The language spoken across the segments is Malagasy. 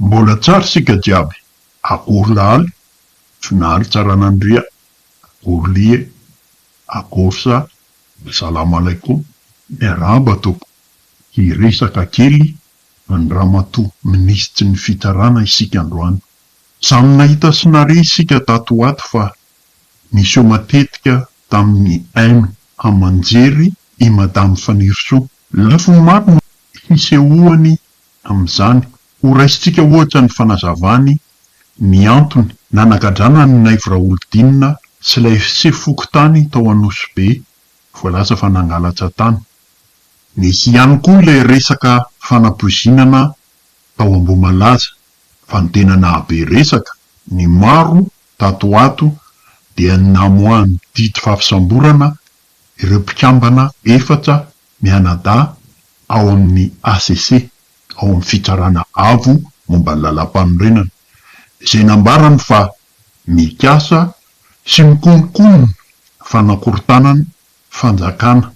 Mbola tsara isika jiaby, akory lahaly, finaly tsaranandria, akory lie, akory sa, Assalamalaikum, miarahaba tompoko, hiresaka kely an'i ramatoa minisitry ny fitsarana isika androany, samy nahita sy nare isika tato ho ato fa Niseho matetika tamin'ny aim aman-jery i Madame Fanirisoa. Lafiny maro no hisehoany amin'izany. Ho raisintsika ohatra ny fanazavany ny antony nanagadrana an'i Naivo Raholidinina sy ilay sefo fokontany tao Anosibe voalaza fa nangalatra tany. Nisy ihany koa ilay resaka fanapoizinana tao Ambohimalaza fa ny tena nahabe resaka ny maro Tato ho ato dia namoahan'ny didy fahafisamborana ireo mpikambana efatra mianadahy ao amin'ny HCC, ao amin'ny Fitsarana Avo momba ny Lalàmpanorenana, izay nambarany fa mikasa sy mikonokono ny fanakorontanan'ny fanjakana.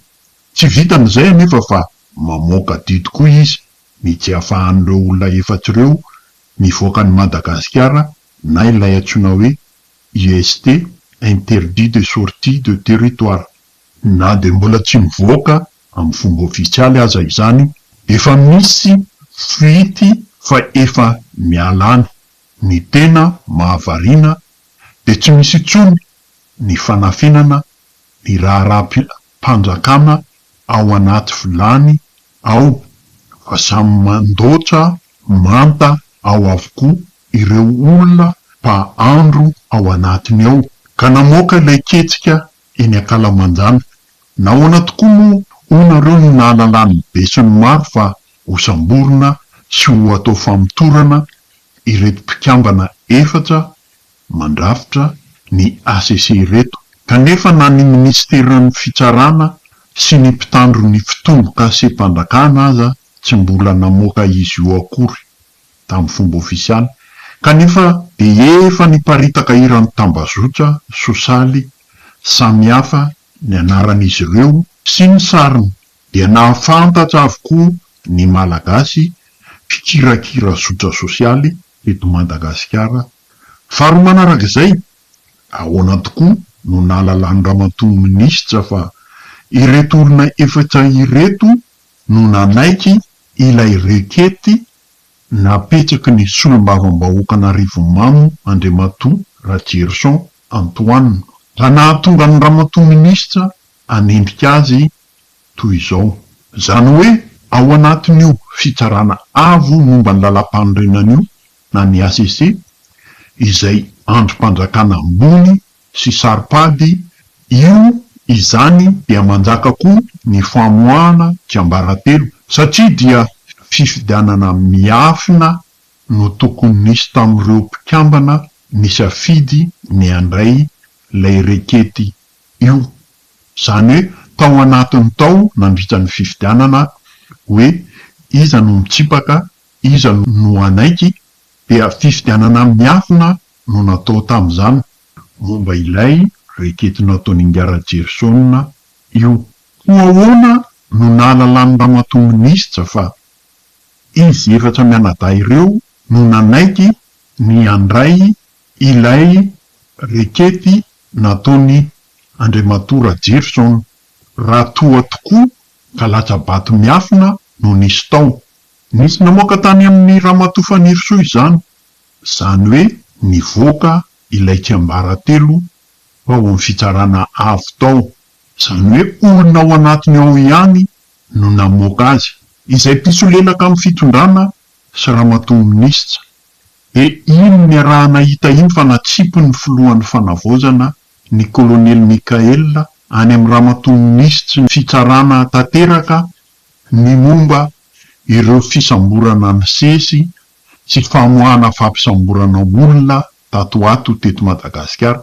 Tsy vitan'izay anefa fa mamoaka didy koa izy ny tsy ahafahan'ireo olona efatra ireo mivoaka an'i Madagasikara na ilay antsoina hoe IST, Interdit de Sortie de Territoire. Na dia mbola tsy mivoaka amin'ny fomba ofisialy aza izany, dia efa misy fuite fa efa miala any. Ny tena mahavariana dia tsy misy intsony ny fanafinana ny raharaham-piarahamonina. mpanjakana ao anaty vilany ao fa samy mandoatra manta ao avokoa ireo olona mpahandro ao anatiny ao ka namoaka ilay ketsika eny ankalamanjana. Nahoana tokoa moa hoy nareo no nahalalan'ny besinimaro fa ho samborina sy ho atao famotorana ireto mpikambana efatra mandrafitra ny HCC ireto, kanefa na ny minisiteran'ny fitsarana sy ny mpitandro ny fitombokasem-panjakana aza tsy mbola namoaka izy io akory tamin'ny fomba ofisialy, kanefa dia efa niparitaka eran'ny tambazotra sosialy samihafa ny anaran'izy ireo sy ny sariny, dia nahafantatra avokoa ny Malagasy mpikirakira zotra sosialy eto Madagasikara Faharoa manaraka izay, ahoana tokoa no nahalalan'ny ramatoa minisitra fa ireto olona efatra ireto no nanaiky ilay rekety napetraky ny solombavambahoakan'Arivomamo Andriamatoa Rajerison Antoine, ka nahatonga ny ramatoa minisitra hanendrika azy toy izao. Izany hoe ao anatin'io fitsarana avo momba ny lalam-panorenana io na ny HCC, izay andrim-panjakana ambony sy saro-pady, io izany dia manjaka koa ny famoahana tsiambaratelo satria dia fifidianana miafina no tokony nisy tamin'ireo mpikambana nisafidy ny handray ilay rekety io, izany hoe tao anatiny tao nandritra ny fifidianana hoe iza no mitsipaka Iza no hanaiky, dia fifidianana miafina no natao tamin'izany momba ilay rekety nataon'i Ngarajerison io. Koa ahoana no nahalalan'i Ramatoa Minisitra fa izy efatra mianadahy ireo no nanaiky ny handray ilay rekety nataon'i Andriamatoa Rajerison raha toa tokoa ka latsa-bato miafina no nisy tao? Nisy namoaka tany amin'i Ramatoa Fanirisoa izany, izany hoe nivoaka ilay tsiambaratelo tao amin'ny fitsarana avo tao, izany hoe olona ao anatiny ao ihany no namoaka azy, izay mpisolelaka amin'ny fitondrana sy Ramatoa Minisitra, dia iny niarahana hita iny fa natsipin'ny Filohan'ny Fanavaozana, ny Kolonely Mickaël, any amin'ny Ramatoa Minisitry ny Fitsarana tanteraka Ny momba ireo fisamborana nisesy sy famoahana fampisamborana olona tato ho ato teto Madagasikara,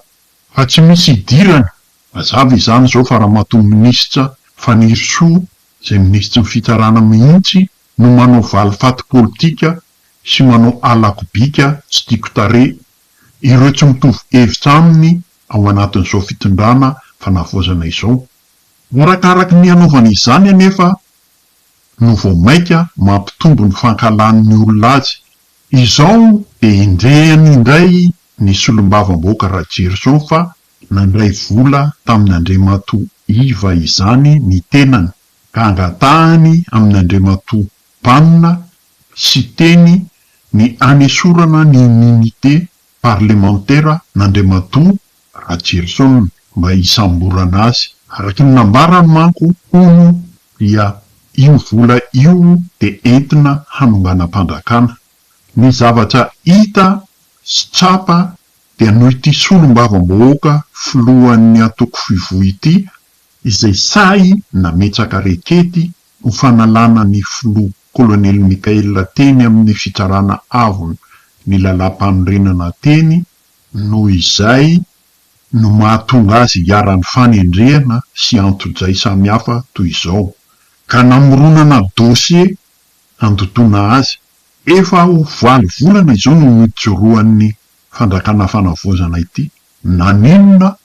fa tsy misy hidirany, mazava izany izao fa ramatoa minisitra Fanirisoa izay minisitry ny fitsarana mihitsy no manao valifaty politika sy manao alakobika tsy tiako tarehy ireo tsy mitovy hevitra aminy ao anatin'izao fitondrana fanavaozana izao. Arakaraky ny hanaovany izany anefa no vao mainka mampitombo ny fankahalan'ny olona azy. Izao dia endrehany indray ny solombavambahoaka Rajerison fa nandray vola tamin'Andriamatoa Iva izany ny tenany ka angatahany amin'Andriamatoa Banona Siteny ny hanesorana ny Unité parlemantera an'Andriamatoa Rajerison mba hisamborana azy. Araka ny nambarany manko, hono, dia io vola io dia entina hanonganam-panjakana. Ny zavatra hita sy tsapa dia noho ity solombavambahoaka filohan'ny antoko Fivo ity izay sahy nametraka rekety ho fanalana ny filoha Kolonely Mickaël teny amin'ny Fitsarana Avo ny Lalàmpanorenana teny, noho izay no mahatonga azy hiharan'ny fanendrehana sy antojay samihafa toy izao, ka namoronana dosie handotoana azy. Efa ho valo volana izao no nijoroan'ny Fanjakana Fanavaozana ity, naninona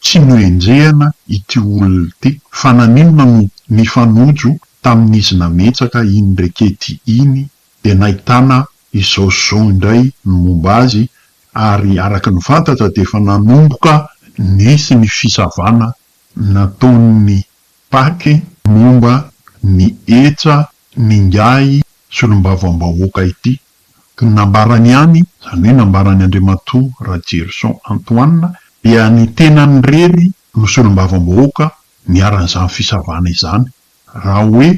Tsy noenjehina ity olona ity fa naninona no nifanojo tamin'izy nametraka iny rekety iny dia nahitana izao sy izao indray ny momba azy ary araka ny fantatra dia efa nanomboka nisy ny fisavana nataon'ny Paky momba ny hetra n'ingahy solombavambahoaka ity Ny nambarany ihany, izany hoe nambaran'i Andriamatoa Rajerison Antoine, dia ny tenany irery no solombavambahoaka niharan'izany fisavana izany. Raha hoe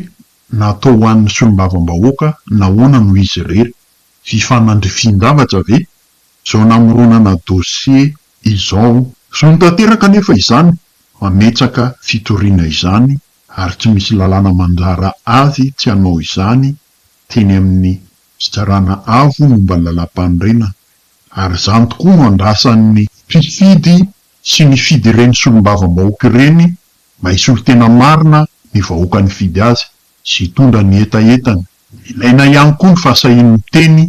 natao ho an'ny solombavambahoaka, nahoana no izy irery? Fifanandrifian-javatra ve izao namoronana dosie izao? Zony tanteraka anefa izany mametsaka fitoriana izany ary tsy misy lalàna mandrara azy tsy hanao izany teny amin'ny fizarana avo momba ny Lalàmpanorenana ary izany tokoa no andrasan'ny mpifidy sy nifidy ireny solombavambahoaka ireny mba hisolo tena marina ny vahoaka nifidy azy sy hitondra ny hetahetany. Ilaina ihany koa ny fahasahian'ny miteny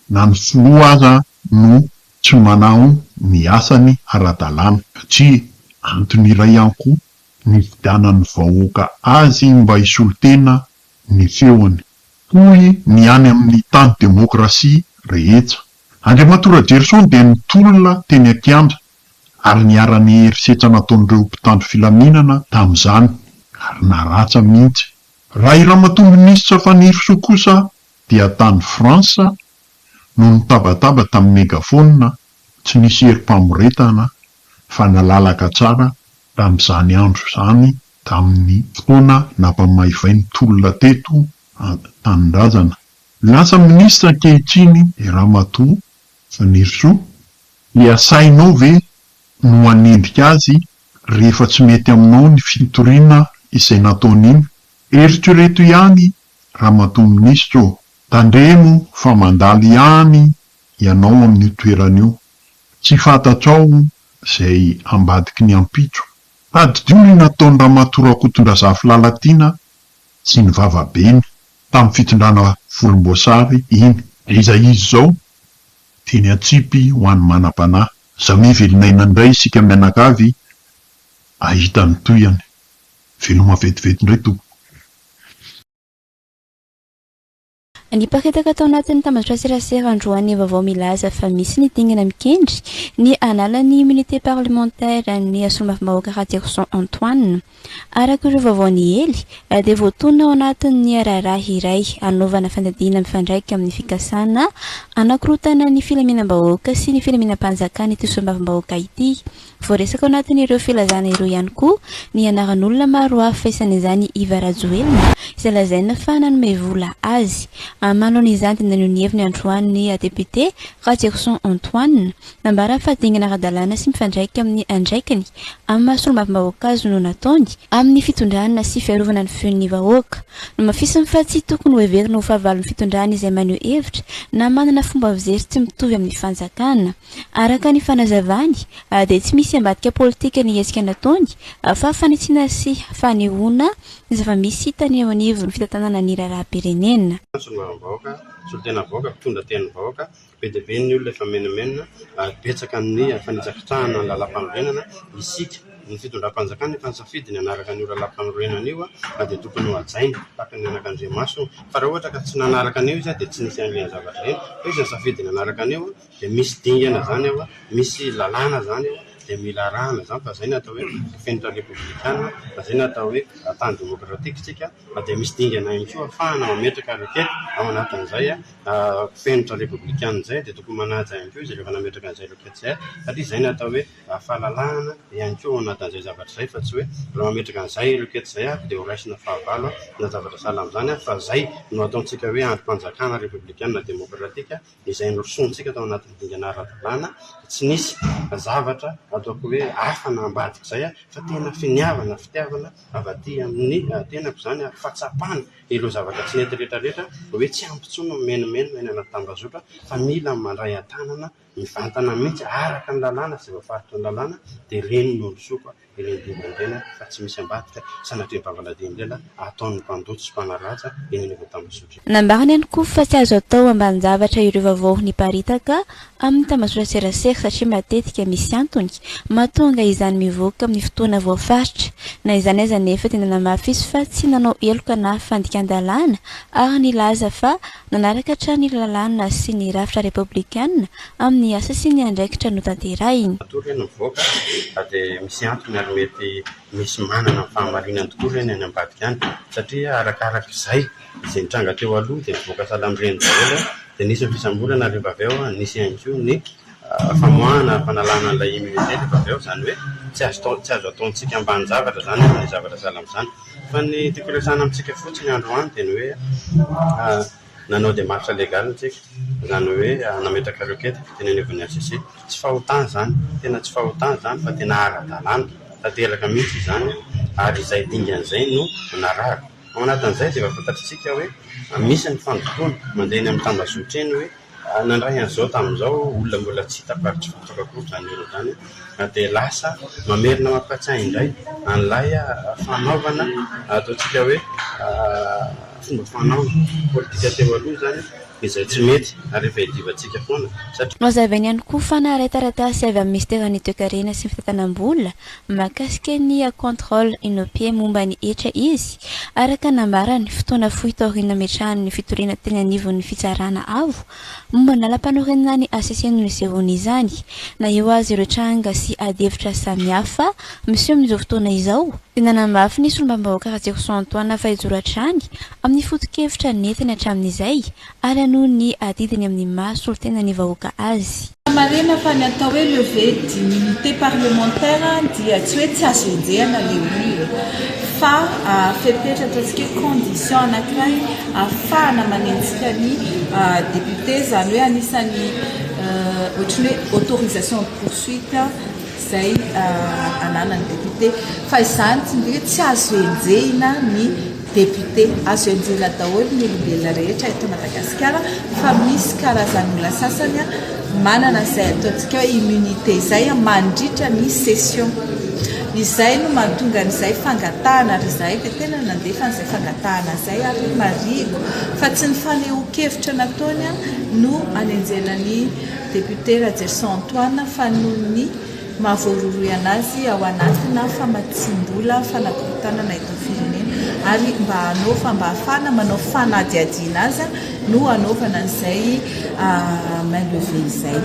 na ny filoha aza no tsy manao ny asany ara-dalàna satria antony iray ihany koa ny hifidianan'ny vahoaka azy mba hisolo tena ny feony. Hoy ny any amin'ny tany demokrasia rehetra. Andriamatoa Rajerison dia nitolona teny an-kianja ary niharan'ny herisetra nataon'ireo mpitandro filaminana tamin'izany ary naràtra mihitsy. Raha i Ramatoa Minisitra Fanirisoa kosa dia tany France no nitabataba tamin'ny megaphone, tsy nisy herim-pamoretana fa nalalaka tsara tamin'izany andro izany tamin'ny fotoana nampamaivay ny tolona teto an-tanindrazana. Lasa minisitra ankehitriny Ramatoa Fanirisoa, dia asainao ve no hanendrika azy rehefa tsy mety aminao ny fitoriana izay nataony iny? Eritrereto ihany Ramatoa Minisitra ô! Tandremo fa mandalo ihany ianao amin'io toerana io, tsy fantatrao izay ambadiky ny ampitso Tadidio ny nataon'i Ramatoa Rakotondrazafy Lalatiana sy ny vavabeny tamin'ny fitondrana volomboasary iny. Dia izay izy izao, teny an-tsipy ho an'ny manam-panahy. Aza mivelonaina indray isika mianakavy hahita ny tohiny. Veloma vetivety indray tompoko. Niparitaka tao anatin'ny tambajotran-tserasera androany ny vaovao milaza fa misy ny dingana mikendry ny hanala ny immunité parlementaire an'i solombavambahoaka Raterison Antoine. Araka ireo vaovao niely dia voatonona ao anatin'ny raharaha iray hanaovana fanadihana mifandraika amin'ny fikasana hanakorontana ny filaminam-bahoaka sy ny filaminam-panjakana ity solombavambahoaka ity Voaresaka ao anatin'ireo filazana ireo ihany koa ny anaran'olona maro hafa isan'izany Iva Rajoelina izay lazaina fa nanome vola azy. Amaloan'izany dia naneho ny heviny androany ny depiote Ratsirison Antoine. Nambarany fa dingana ara-dalàna sy mifandraika amin'ny andraikiny amin'ny maha solombavambahoaka azy no nataony amin'ny fitondrana sy fiarovana ny feon'ny vahoaka. Nomafisiny fa tsy tokony hoheverina ho fahavalon'ny fitondrana izay maneho hevitra na manana fomba fijery tsy mitovy amin'ny fanjakana. Araka ny fanazavany, dia tsy misy ambadika politika nihetsika nataony fa fanitsiana sy fanehoana ny zava-misy hitany eo anivon'ny fitantanana ny raharaham-pirenena. Solombavambahoaka, solontena vahoaka, mpitondra tenin'ny vahoaka, be dia be ny olona efa menomenona ary betsaka amin'ny fanitsakitsahana ny lalàmpanorenana, isika, ny fitondram-panjakana efa nisafidy ny hanaraka an'io lalàmpanorenana io ka dia tokony ho hajaina tahaka ny anakandriamaso fa raha ohatra ka tsy nanaraka an'io izy dia tsy nisy an'ireny zavatra ireny fa izy nisafidy ny hanaraka an'io Dia misy dingana izany ao an, misy lalàna izany ao an, dia mila arahana izany fa izay no atao hoe fenitra repoblikana, fa izay no atao hoe tany demokratika isika, fa dia misy dingana ihany koa ahafahana mametraka ariketa ao anatin'izay fenitra repoblikana izay dia tokony manaja ihany koa izy rehefa nametraka an'izay ariketa izay satria izay no atao hoe fahalalahana ihany koa ao anatin'izay zavatra izay fa tsy hoe raha mametraka an'izay ariketa izay aho dia ho raisina fahavalo aho na zavatra sahala amin'izany aho fa izay no ataontsika hoe andrim-panjakana repoblikana demokratika. izay norosoantsika tao anatin'ny dingana ara-dalàna, dia tsy nisy zavatra ataoko hoe hafa na ambadika izay fa tena finiavana, fitiavana avy aty amin'ny tenako izany ary fahatsapana ireo zavatra tsy nety rehetra rehetra hoe tsy ampy intsony ny mimenomenona eny anaty tambazotra fa mila mandray an-tanana mivantana mihitsy araka ny lalàna sy voafaritry ny lalàna dia ireny no norosoako ireo dobo ireny fa tsy misy ambadika sanatria bavaladimbela ataon'ny mpandoto sy mpanaraja eny anivon'ny tambazotra eny. Nambarany ihany koa fa tsy azo atao ambanin-javatra ireo vaovao niparitaka amin'ny tambazotraserasera satria matetika misy antony mahatonga izany mivoaka amin'ny fotoana voafaritra. Na izany aza anefa dia nanamafy izy fa tsy nanao heloka na fandikan-dalàna ary nilaza fa Nanaraka hatrany ny lalàna sy ny rafitra repoblikana amin'ny asa sy ny andraikitra notanterahiny. Matoa ve no mivoaka fa dia misy antony ary mety misy manana ny fahamarinany tokoa ve ny any ambadika any? Satria arakaraka izay, izay nitranga teo aloha dia nivoaka salambiren'ny daholo dia nisy ny fisamborana ary rehefa avy eo nisy ihany koa ny. famoahana fanalana an'ilay immunité rehefa avy eo, izany hoe tsy azo atao tsy azo ataontsika ambanin-javatra izany aza ny zavatra sahala amin'izany. Fa ny tiako hiresahana amintsika fotsiny androany dia ny hoe nanao démarche légale tsika, izany hoe nametraka requête teny anivon'ny HCC. Tsy fahotana izany, tena tsy fahotana izany fa tena ara-dalàna tanteraka mihitsy izany ary izay dingana izay no narahako. Ao anatin'izay dia efa fantatr'isika hoe misy ny fandotoana mandeha eny amin'ny tambazotra eny hoe. Nandray an'izao tamin'izao olona mbola tsy hita faritry vakoka koa izany olona izany an, dia lasa mamerina mampihatsahy indray an'ilay fanaovana ataontsika hoe fomba fanao politika teo aloha izany izay tsy mety ary efa iadivantsika foana satria. Nohazavainy ihany koa fa naharetaretaa sy avy amin'ny minisiteran'ny Toekarena sy ny Fitantanam-bola Mahakasika ny contrôle Inopie momba ny hetra izy, araka ny nambarany, fotoana fohy taorian'ny nametrahan'ny fitoriana teny anivon'ny Fitsarana Avo momba ny Lalampanorenana ny HCC no nisehoany izany. Na eo aza ireo tranga sy adihevitra samihafa miseho amin'izao fotoana izao, dia nanamafy ny Solombavambahoaka Ratsirison Antoine fa hijoro hatrany amin'ny foto-kevitra nentiny hatramin'izay Ary hanohy ny adidiny amin'ny maha solontenan'ny vahoaka azy. Raha marina fa ny atao hoe levée d'immunité parlementaire dia tsy hoe tsy azo enjehana ilay olona fa fepetra ataontsika hoe condition anankiray ahafahana manenjika ny député izany hoe anisan'ny ohatran'ny hoe autorisation de poursuite izay ananan'ny député fa izany tsy dia hoe tsy azo enjehina ny Député, azo ianjera daholo ny olombelona rehetra eto Madagasikara fa misy karazan'olona sasany manana izay ataontsika hoe immunité izay mandritra ny session. Izay no mahatonga an'izay fangatahana ary izahay dia tena nandefa an'izay fangatahana izay ary marihiko fa tsy ny fanehoan-kevitra nataony no anenjehana an'i Député Rajerison Antoine fa noho ny mahavoarohirohy an'azy ao anatina famatsiam-bola fanakorontanana eto firenena ary mba hanao fa mba hahafahana manao fanadihadiana azy no hanaovana an'izay main levée izay.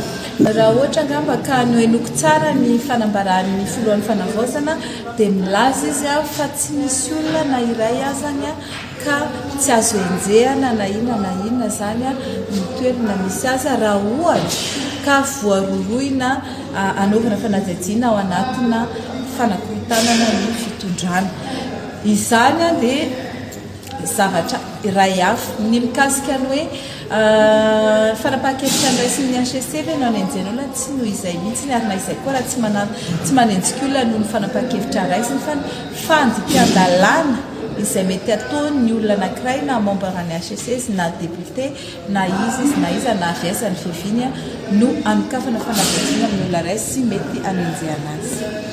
Raha ohatra angamba ka nohenoiko tsara ny fanambaran'ny filohan'ny fanavaozana dia milaza izy fa tsy misy olona na iray azany ka tsy azo henjehana na inona na inona izany ny toerana misy azy raha ohatra ka voarohirohina hanaovana fanadihadiana ao anatina fanakorontanana ny fitondrana. Izany dia zavatra iray hafa. Ny mikasika ny hoe fanapahan-kevitra andraisin'ny HCC ve no hanenjehana olona? Tsy noho izay mihitsy ny ary na izay koa raha tsy manana tsy manenjika olona noho ny fanapahan-kevitra raisiny fa ny fandikan-dalàna izay mety ataon ny olona anakiray na membre any HSS na député na iza izy na iza na aviaza ny fiaviany no anokafana fanadihadiana amin ny olona iray sy mety anenjehana azy.